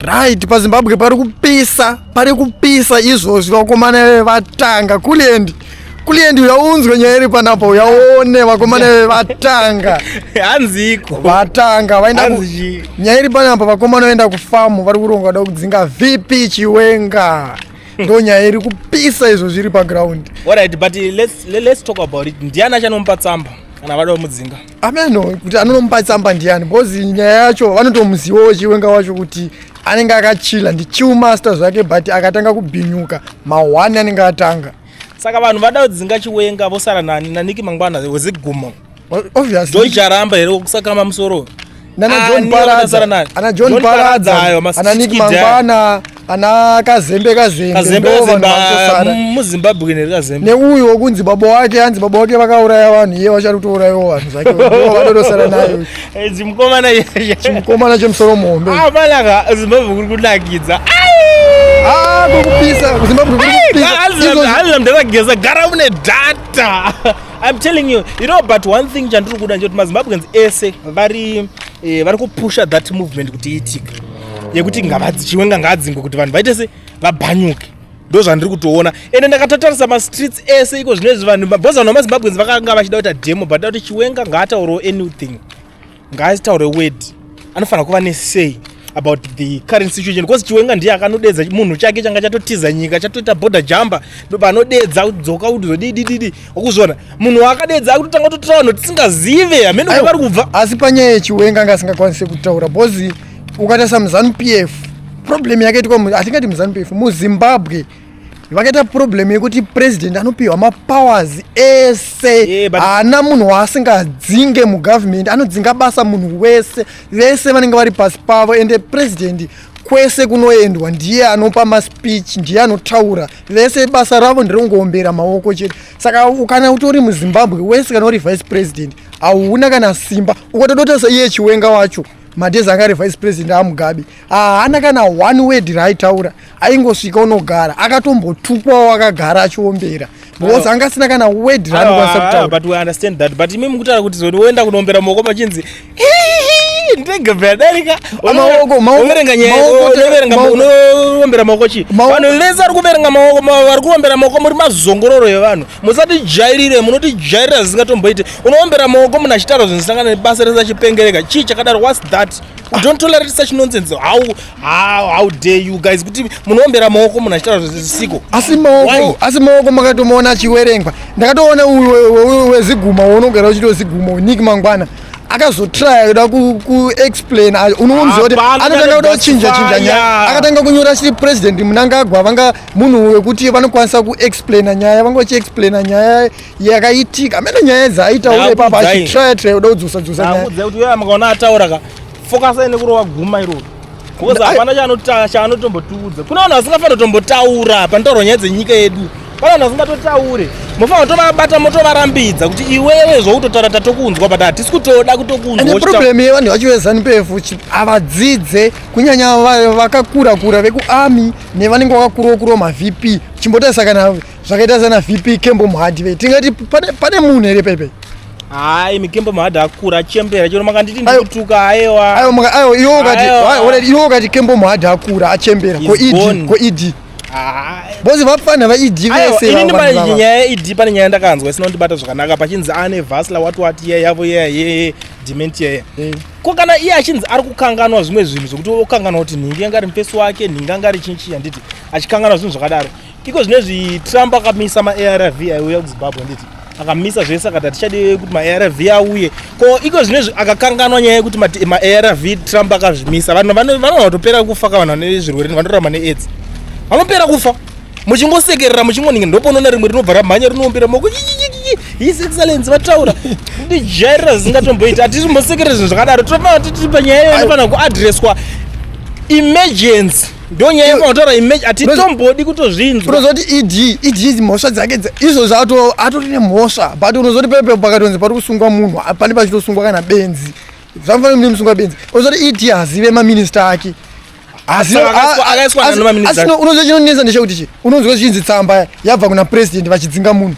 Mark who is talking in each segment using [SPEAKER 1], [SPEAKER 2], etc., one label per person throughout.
[SPEAKER 1] Right, paZimbabwe pari kupisa, pari kupisa izvozvi vakomana vevatanga kuliendi kuliendi uyaunzwe nyaya iri panapa uyaone vakomana vevatanga hanziko
[SPEAKER 2] vatanga vaenda
[SPEAKER 1] nyaya iri panapa vakomana vaenda kufamu vari kuronga kuda kudzinga vp chiwenga ndo nyaya iri kupisa izvo zviri paground allright but let's,
[SPEAKER 2] let's talk about it ndiani achanomupa tsamba kana vada kumudzinga ameno kuti
[SPEAKER 1] anonomupa tsamba ndiani because nyaya yacho vanotomuzivawo chiwenga wacho kuti anenge akachila ndichiumaster zvake but akatanga kubhinyuka mahwani anenge atanga saka vanhu vada
[SPEAKER 2] kudzinga chiwenga vosara nani naniki mangwana wezigumo obviously
[SPEAKER 1] jojaramba here
[SPEAKER 2] kusakama musoro nana ah, john paradza ana
[SPEAKER 1] john paradza ana nick mangwana ana kazembe kazembemuzimbabwe
[SPEAKER 2] mm, nerekazembe neuyu
[SPEAKER 1] wokunzi baba wake anzi baba wake vakauraya vanhu iye vachari kutourayiwo vanhu zvake vadodosara nayo eh, chimukomana chimukomana chemusoro muhombe ah, malaka zimbabwe
[SPEAKER 2] kuri kunakidza ah, kuri kupisa
[SPEAKER 1] kuzimbabwe kuri kupisa hazina mndu akageza gara
[SPEAKER 2] une data I'm telling you, you know, but one thing chandiri kuda ndechoti mazimbabweans ese vari eh, vari kupusha that movement kuti iitike yekuti ngavadzi chiwenga ngaadzingwe kuti vanhu vaite se vabhanyuke ndo zvandiri kutoona ende ndakatotarisa mastreets ese iko zvino izvi vanhu mabhoza vanhu vamazimbabweans vakanga vachida kuita demo but da kuti chiwenga ngaataurawo anything ngaataure word anofanira kuva nesay about the current situation because chiwenga ndiye akanodedza munhu chake changa chatotiza nyika chatoita border jumper ndopanodedza kudzoka kuti zodidididi okuzviona munhu waakadedza akutotanga kutotora vanhu tisingazive hamene kuti vari kubva asi panyaya yechiwenga
[SPEAKER 1] anga asingakwanise kutaura because ukatarisa muzanu p f problem yakaitwa atingati muzanu p f muzimbabwe vakaita problem yekuti president anopiwa mapowers ese haana munhu waasingadzinge mugovernment anodzinga basa munhu wese vese vanenge vari pasi pavo ende president kwese kunoendwa ndiye anopa maspeech ndiye anotaura vese basa ravo ndirongoombera maoko chete saka kana utori muzimbabwe wese kana uri vice president hauna kana simba ukatodota saiye chiwenga wacho madhezi anga ari vice president amugabe haana kana one word raaitaura aingosvika unogara akatombotukwawo akagara achiombera because anga asina kana word raanokwanisa ah, kutaura but we understand that but
[SPEAKER 2] imi mukutaura kuti zoti woenda kunombera maoko machinzi ndege bvadarika unoverenga nyayaunoverengaombera maoko chii vanhu vese ari kuverenga maoko vari kuombera maoko muri mazongororo evanhu musatijairire munotijairira zvisingatomboite unoombera maoko munhu achitaura zvinosangana nebasa rese achipengereka chii chakadaro whats that u don't tolerate such nonsense how, how, how dare you guys kuti munoombera maoko munhu achitaura zvisiko asi maoko asi
[SPEAKER 1] maoko makatomaona achiwerengwa ndakatoona uyu weziguma unogara uchiti weziguma unik mangwana akazotraya kuda kuexplain ayo unomuziva kuti anotanga kuda kuchinja chinja nyaya akatanga kunyora chiri president munangagwa vanga munhu wekuti vanokwanisa kuexplaina nyaya vanga vachiexplaina nyaya yakaitika mene nyaya dzaaita ule papa achitraya traya uda kudzosa dzosa nyaya akuudza kuti weya makaona
[SPEAKER 2] ataura ka fokasai nekurova guma iroro because hapana chaanotombotiudza kuna vanhu vasingafanira kutombotaura panotaurwa nyaya dzenyika yedu pana vanhu vasingatotaure mofanira kutovabata motovarambidza kuti iwewe zvautotaura tatokunzwa but hatisi kutoda kutokunzwaproblem yevanhu vacho
[SPEAKER 1] vezanupefu havadzidze kunyanya vakakura kura vekuarmy nevanenge vakakurawo kurawo mavp chimbotarisa kana zvakaita sana vp kembo mhadi ve tingati pane, pane munhu here pepe hayi mikembo
[SPEAKER 2] mhadi akura achembera chero makanditi ndikutuka ayewa ayo iwo ukati
[SPEAKER 1] iwo ukati kembo mhadi akura achembera ko ed ko ed bozi vapfana vaed vese inini pane nyaya yeed
[SPEAKER 2] pane nyaya ndakanzwa isina kundibata zvakanaka pachinzi ane vasla what what ye yavo ye ye dementia ye eh. ko kana iye achinzi ari kukanganwa zvimwe zvinhu zvekuti okanganwa kuti nhingi yanga ari mufesi wake nhingi anga ari chinchi chanditi achikanganwa zvinhu zvakadaro iko zvinezvi trump akamisa maarv aiuya kuzimbabwe nditi akamisa zvese akati hatichadi kuti maarv auye ko iko zvinezvi akakanganwa nyaya yekuti maarv trump akazvimisa vanhu vanotopera kufa ka vanhu vane zvirwere vanorama neaids vanopera kufa muchingosekerera muchingoninga ndoponoona rimwe rinobva ramhanya rinoombera moko his excellence vataura ndijairira zvisingatomboiti hatisi mbosekerera zvinhu zvakadaro tinofanira titiri panyaya iyo inofanira kuadresswa emergency ndonyaya yafanotaura image atitombodi kutozvinzwa unozoti ed ed
[SPEAKER 1] izi mhosva dzake izvo zvato atori nemhosva but unozoti pepe pakatonzi pari kusungwa munhu pane pachitosungwa kana benzi zvamfanira mune musungwa benzi unozoti ed hazive maminista ake asino unozochinonetsa ndechekuti chi unonzwa zvichinzi tsamba yabva kuna president vachidzinga munhu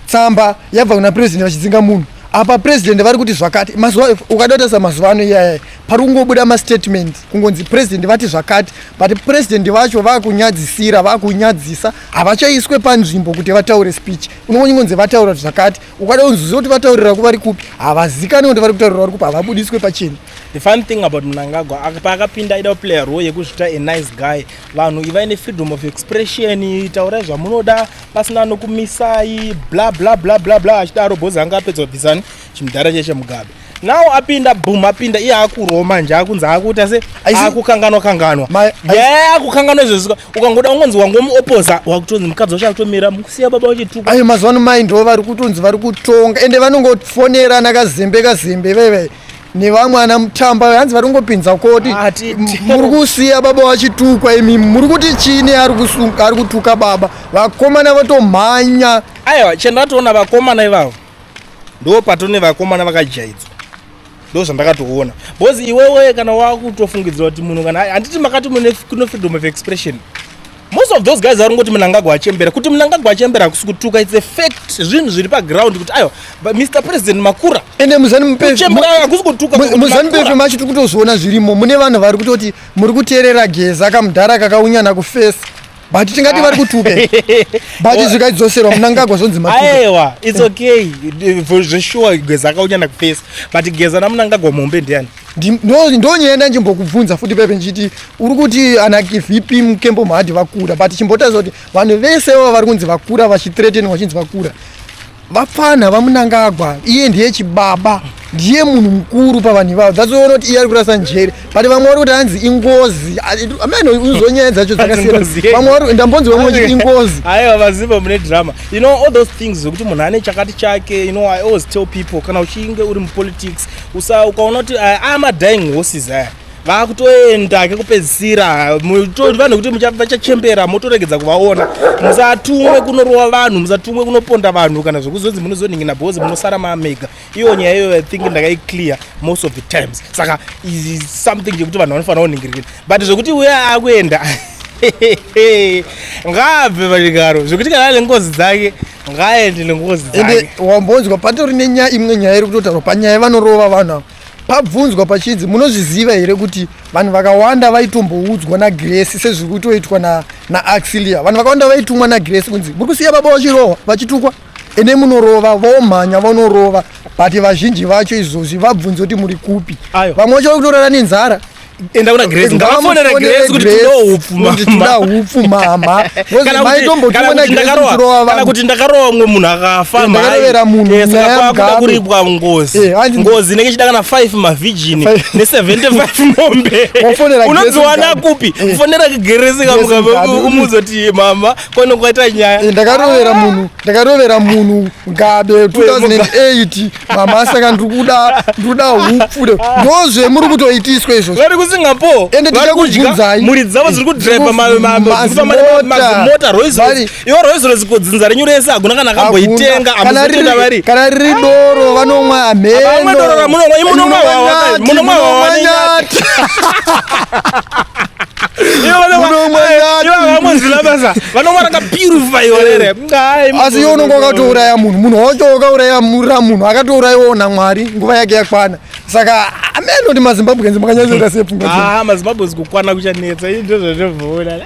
[SPEAKER 1] tsamba yabva kuna president vachidzinga munhu apa president vari kuti zvakati mazuva ukadotarisa mazuva ano iyaya pari kungobuda mastatement kungonzi president vati zvakati but president vacho vakunyadzisira vakunyadzisa havachaiswe panzvimbo kuti vataure speech unongonzi vataura zvakati ukada kunzwisa kuti vataurira kuvari kupi havazikani kuti vari kutaurira vari kupi havabudiswe pacheni the fun thing about
[SPEAKER 2] mnangagwa paakapinda aida kuplayer role yekuzvita a nice guy vanhu ivai nefreedom of expression taurai zvamunoda pasina anokumisai bla bla bla bla bla achidaro bhozi anga apedza kubvisani chimudhara chaiche mugabe now apinda boom apinda iye akurwa manje akunzi akuita se akukanganwa kanganwa ye akukanganwa izvozvo ukangoda ungonzi wangomuopoza wakutonzi mukadzi wacho akutomira musiya baba wachituka ayo mazuva ano mai ndo
[SPEAKER 1] vari kutonzi vari kutonga ende vanongofonerana kazembe kazembe veve nevamwe ana mutamba hanzi vari kungopinza koti ah, muri kusiya baba vachitukwa imi muri kuti chini ari kutuka baba vakomana vatomhanya aiwa chandatoona
[SPEAKER 2] vakomana ivavo ndo patone vakomana vakajaidzwa ndo zvandakatoona bcause iwewe kana wakutofungidzira kuti munhu kana handiti makati mune freedom of expression most of those guys vari ngoti mnangagwa achembera kuti mnangagwa achembera hakusi kutuka its a fact zvinhu zviri paground kuti aiwa but mr president makura ende muzanimupehakusi kutukamuzanimupefe macho tiri
[SPEAKER 1] kutozoona zvirimo mune vanhu vari kutoti muri kuteerera geza kamudhara kakaunyana kufesi but tingati vari kutuka but zvikadzoserwa munangagwa zvonzi maaiwa its okay
[SPEAKER 2] zveshuwa geza akaunyana kufesi but geza namunangagwa muhombe ndiani ndonyaya ndanjimbokubvunza futi pepe ndichiti uri kuti ana vp mukembo mahadhi vakura but chimbotaridza kuti vanhu vese vava vari kunzi vakura vachithreatenwa vachinzi vakura vapfanha vamunangagwa iye ndiye chibaba ndiye munhu mukuru pavanhu ivavo dzatoona kuti iye ari kurasa njere but vamwe vari kuti hanzi ingozi amene uzonyaya dzacho dzakasiyana vamwe vari ndambonzi vamwe vachiti ingozi aiwa vazimba mune drama you know all those things zvekuti munhu ane chakati chake you know i always tell people kana uchinge uri mupolitics usa ukaona kuti aya ah, ama dying horses aya vakutoenda kekupedzisira vanhu kuti vachachembera motoregedza kuvaona musatumwe kunorowa vanhu musatumwe kunoponda vanhu kana zvekuzonzi munozonhingina bhozi munosara mamega iyo nyaya iyoyo ithink ndakaiclear most of the times saka something chekuti vanhu vanofanira kunhingirikira but zvekuti uya akuenda ngaabve pachigaro zvekuti kana ane ngozi dzake ngaaende nengozi ende wambonzwa
[SPEAKER 1] patori nenyaya imwe nyaya iri kutotaurwa panyaya yevanorova vanhu ava pabvunzwa pachinzi munozviziva here kuti vanhu vakawanda vaitomboudzwa nagresi sezviri kutoitwa naaxilia vanhu vakawanda vaitumwa nagresi kunzi muri kusiya baba vachirohwa vachitukwa ende munorova vomhanya vonorova but vazhinji vacho izvozvi vabvunzi kuti muri kupi vamwe vacho vakutorara nenzara enda kuna grace
[SPEAKER 2] ngavafonere grace kuti tinoda hupfu mama hupfu mama
[SPEAKER 1] kana kuti ndakarowa
[SPEAKER 2] kana kuti ndakarowa mwe munhu akafa mhai yes
[SPEAKER 1] akakuda kuripwa
[SPEAKER 2] ngozi eh, ngozi inenge chida kana 5 ma virgin ne 75 mombe unodziwana kupi eh. fonera grace kamuka umuzoti mama Kono kwaita nyaya. Eh, ndakarovera munhu,
[SPEAKER 1] ndakarovera munhu ngabe 2008 mama saka ndiri kuda ndiri kuda hupfude. Ndozve muri kutoitiswa izvo. Vari kuSingapore. Ende tiri kubvunzai.
[SPEAKER 2] Muri dzavo dziri kudriver mama mama mota Rolls Royce. Iwo Rolls Royce kodzinza renyu rese hakuna kana akamboitenga amuzitenda vari. Kana riri doro
[SPEAKER 1] vanomwa ameno. Vamwe doro ramunonwa imunomwa
[SPEAKER 2] wawa. Munomwa wawa. asi iwe unonge
[SPEAKER 1] wakatouraya munhu munhu wacho wakauraya mura munhu akatourayiwawo namwari nguva yake yakwana saka ameno kuti mazimbabwenzi makanyasoita sepfungamazimbabwe ah, zikukwana
[SPEAKER 2] kuchanetsa ndozvatovoona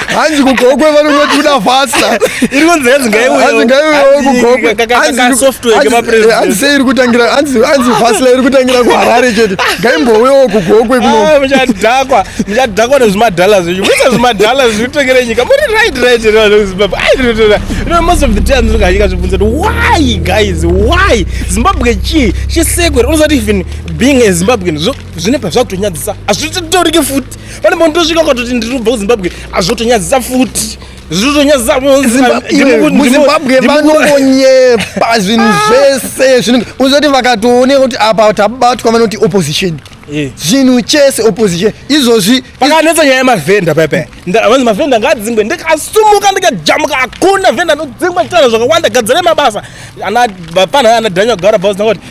[SPEAKER 1] hanzi kugokwe vanongotuda fasta iri kunzi hanzi
[SPEAKER 2] ngaiuyehanzi ngaiuyewo
[SPEAKER 1] kugokwehanzi
[SPEAKER 2] sei iri kutangira
[SPEAKER 1] hanzi fasla iri kutangira kuharare chete ngaimbouyewo kugokwe kunomuchadhakwa ah, muchadhakwa
[SPEAKER 2] nezvimadhala zvenyu muisa zvimadhala zvirikutengere nyika muri right right zimbabwe ah, most of the time ndinonganyika zvibvunza kuti why guys why zimbabwe chii chisekwe unozati even being a zimbabwean zvine pazvakutonyadzisa hazvitotorike futi pane munhu tosvika ukatoti ndiri kubva kuzimbabwe azvotonyadzisa futi muzimbabwe
[SPEAKER 1] vanongonyepa zvinhu ah. zvese zvinenge uzoti vakatooneka kuti apa tabatwa vanoti opposition eh. zvinhu chese opposition izvozvi pakanetsa nyaya yemavhenda
[SPEAKER 2] pepe vanzi mavhenda ngaadzingwe ndikasumuka ndikajamuka hakuna vhenda anodzingwa chitana zvakawanda gadzira mabasa ana bapana ana daniel gara bausinakoti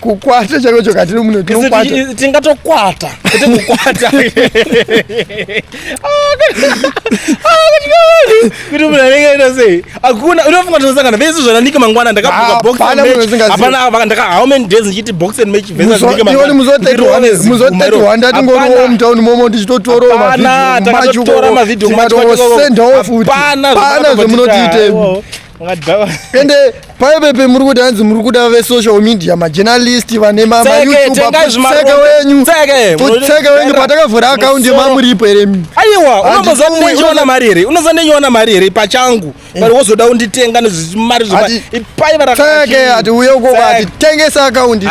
[SPEAKER 1] kukwata chaiko choka tiri muno tinokwata tingatokwata
[SPEAKER 2] kuti kukwata kuti munhu anenge aita sei hakuna unofunga tinosangana vese zvananike mangwana ndakabukaboxapana ndaka how many days ndichiti box and match vesaioni
[SPEAKER 1] muzotetirwa ndatingoriwo mutown momo tichitotoroaaasendawo futi pana zvemunotiite ende paipepe muri kuti hanzi muri kuda vesocial media majournalist vane mamayoutubeauseka wenyu useka wenyu patakavhura akaundi yemamuripo here aiwa
[SPEAKER 2] unozoona mari here unozoa ndenyoona mari here pachangu eh. vari wozoda unditenga nezvimari zvepaivatseke
[SPEAKER 1] ati uye ukoko atitengese akaundi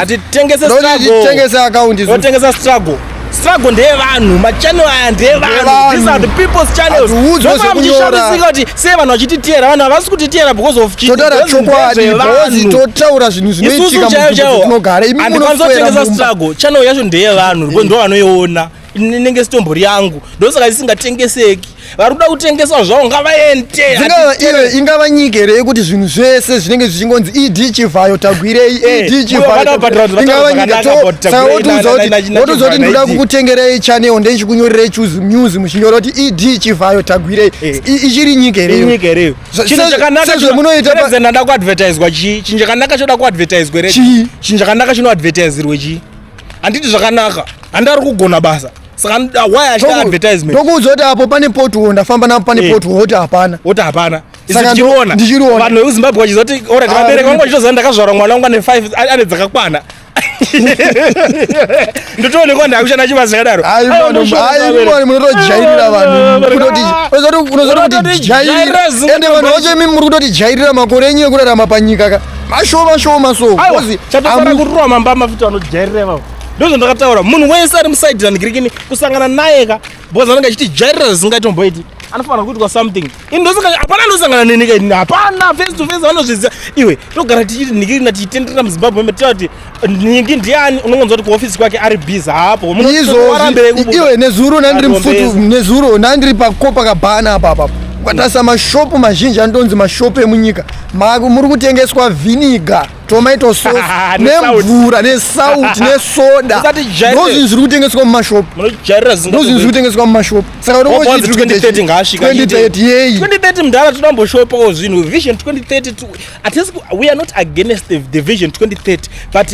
[SPEAKER 1] atitengese
[SPEAKER 2] struggle struggle ndeyevanhu machannel aya ndeyevanhu these are the people's channels zvofaa muchishamisika kuti sei vanhu vachititiyera vanhu havasi kutitiyera because of chitotaura chokwadi
[SPEAKER 1] because totaura zvinhu zvinoitika mutinogara imi munokwanisa kutengesa struggle
[SPEAKER 2] channel yacho ndeyevanhu ndo vanoiona inenge sitombori yangu ndosaka isingatengeseki vari kuda kutengeswa zvavo ngavaende dzingava iyo ingava
[SPEAKER 1] nyika here yekuti zvinhu zvese zvinenge zvichingonzi ed chivhayo tagwirei eh, ed chivhayoingava nyika saka wotiudza kuti ndoda kukutengerei chanel ndechikunyorerei news muchinyora kuti ed chivhayo tagwirei eh. ichiri nyika here sezvemunoitaada
[SPEAKER 2] kuadvertiswa chii chinhu chakanaka choda kuadvertiswa here chii chinhu chakanaka chinoadvertisirwe chii handiti zvakanaka handi ari kugona basa saka why achiita advertisement ndokuudza kuti apo pane
[SPEAKER 1] potuo ndafamba napo pane eh. potuo woti hapana woti hapana ndichiriona
[SPEAKER 2] ndichiriona vanhu vekuzimbabwe vachizoti ora ah, vabereki vangu vachitoziva ndakazvarwa mwana wangu ane five ane dzakakwana ndotoonekwa ndakushanda chibasa chakadaro munotojairira
[SPEAKER 1] vanhuunozototijairira ende vanhu vacho imi muri kutotijairira makore enyu ekurarama panyika ka mashoma shoma so chatosara kururwa
[SPEAKER 2] mamba mafuta anojaireva ndozvo ndakataura munhu wese ari musaidi randigirikini kusangana naye ka bcause anenge achitijairira zvisingatomboiti anofanira kuitwa something ini hapana ndosangana nenika ini hapana face to face vanozviziva iwe togara tichiti nhikirina tichitenderera muzimbabwe matiati nhingi ndiani unongonzwa kuti kuhofisi kwake ari busy haapo iwe
[SPEAKER 1] nezuro nandiri mfutu nezuro nandiri pakopa kabhana apapa ukatarisa mashopu mazhinji anodonzi mashopu emunyika muri kutengeswa vhiniga tomato sauce nemvura nesalt nesoda ndozvinhu zviri kutengeswa mumashopu ndozvinhu zviri kutengeswa mumashopu saka unochiti 2030
[SPEAKER 2] yeyi 2030 mdhara toda mboshopawo zvinhu vision 2030 Atisi, we are not against the, the vision 2030 but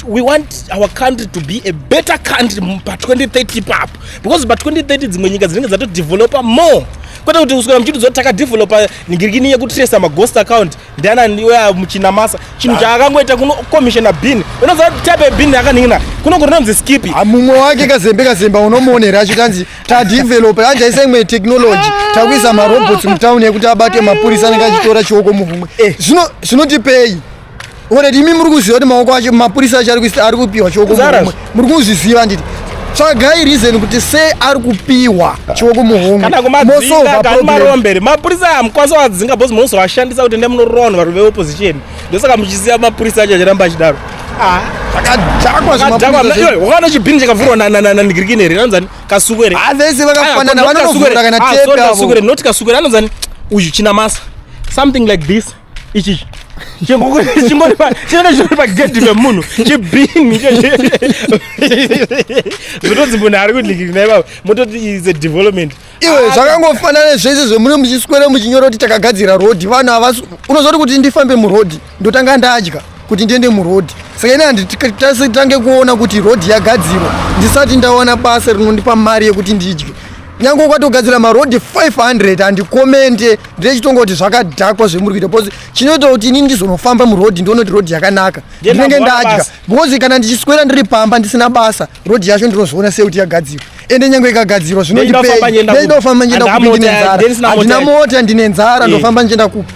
[SPEAKER 2] we want our country to be a better country pa 2030 ipapo because pa 2030 dzimwe nyika dzinenge dzatodevelopa more kwete kuti kuswera muchiti zoti takadevelopa ningirikini yekutresa maghost account ndianani oya muchinamasa chinhu chaakangoita kuno commissiona bin unoziva type yebin yakaningina kuno kurinonzi skipi ah, mumwe wake kazembe
[SPEAKER 1] kazemba unomuonera achikanzi tadevelope anjaisa imwe technology takuisa marobots mutown yekuti abate mapurisa anenge achitora chioko muhumwe eh. zvino zvinotipei oredi imi muri kuziva kuti maoko acho mapurisa acho ari kupiwa chioko muhumwe muri kuzviziva nditi tsvagai reason kuti sei ari kupiwa chioko muhomwekana kumadzinga
[SPEAKER 2] kani marombere mapurisa amukwanisa wadzinga bhozi munozovashandisa kuti ndemunoroonwa vari veopposition ndosaka muchiziva mapurisa acho achiramba achidaro ah,
[SPEAKER 1] wakaona chibhini chakavhurwa
[SPEAKER 2] nanigirikini here anonzani kasuku here ah, vese vakafanana
[SPEAKER 1] vanonovhura kana ah, tepekasuku not kasuku
[SPEAKER 2] here anonzani uyu china masa something like this ichichi chingori pagedhi vemunhu chibhini zvotonzi munhu ari kudlikiri naye baba mototi is a development iwe zvakangofanana
[SPEAKER 1] zvese zvemune muchiswere muchinyora kuti takagadzira rodhi vanhu havasi unozoti kuti ndifambe murodhi ndotanga ndadya kuti ndiende murodhi saka ini handitasitange kuona kuti rodhi yagadzirwa ndisati ndaona basa rinondipa mari yekuti ndidye nyange ukatogadzira marodhi 500 handikomente ndinechitonga kuti zvakadhakwa zvemuri kuita bcause chinoita kuti inini ndizonofamba murodhi ndione kuti rodhi yakanaka ndinenge ndadya bcause kana ndichiswera ndiri pamba ndisina basa road yacho ndinozviona sekuti yagadzirwa ende nyange ikagadzirwa zvinondipei
[SPEAKER 2] ndinofamba ndichienda kupi ndine
[SPEAKER 1] nzara handina mota ndine nzara eh. ndofamba ndichienda kupi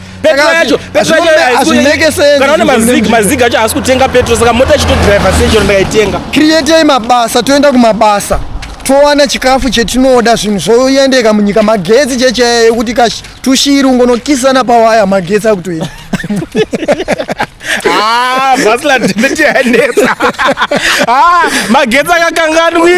[SPEAKER 1] mazig
[SPEAKER 2] acho haasi kutenga petro saka mota ichitodriva sei chero ndakaitenga createi mabasa
[SPEAKER 1] toenda kumabasa towana chikafu chetinoda zvinhu zvoendeka munyika magetsi checheya yekuti tushiri ungonokisana pawaya magetsi akutoenda
[SPEAKER 2] Ah, bhazi la dhemeti yanetsa. Ah, magetsi akakanganwika.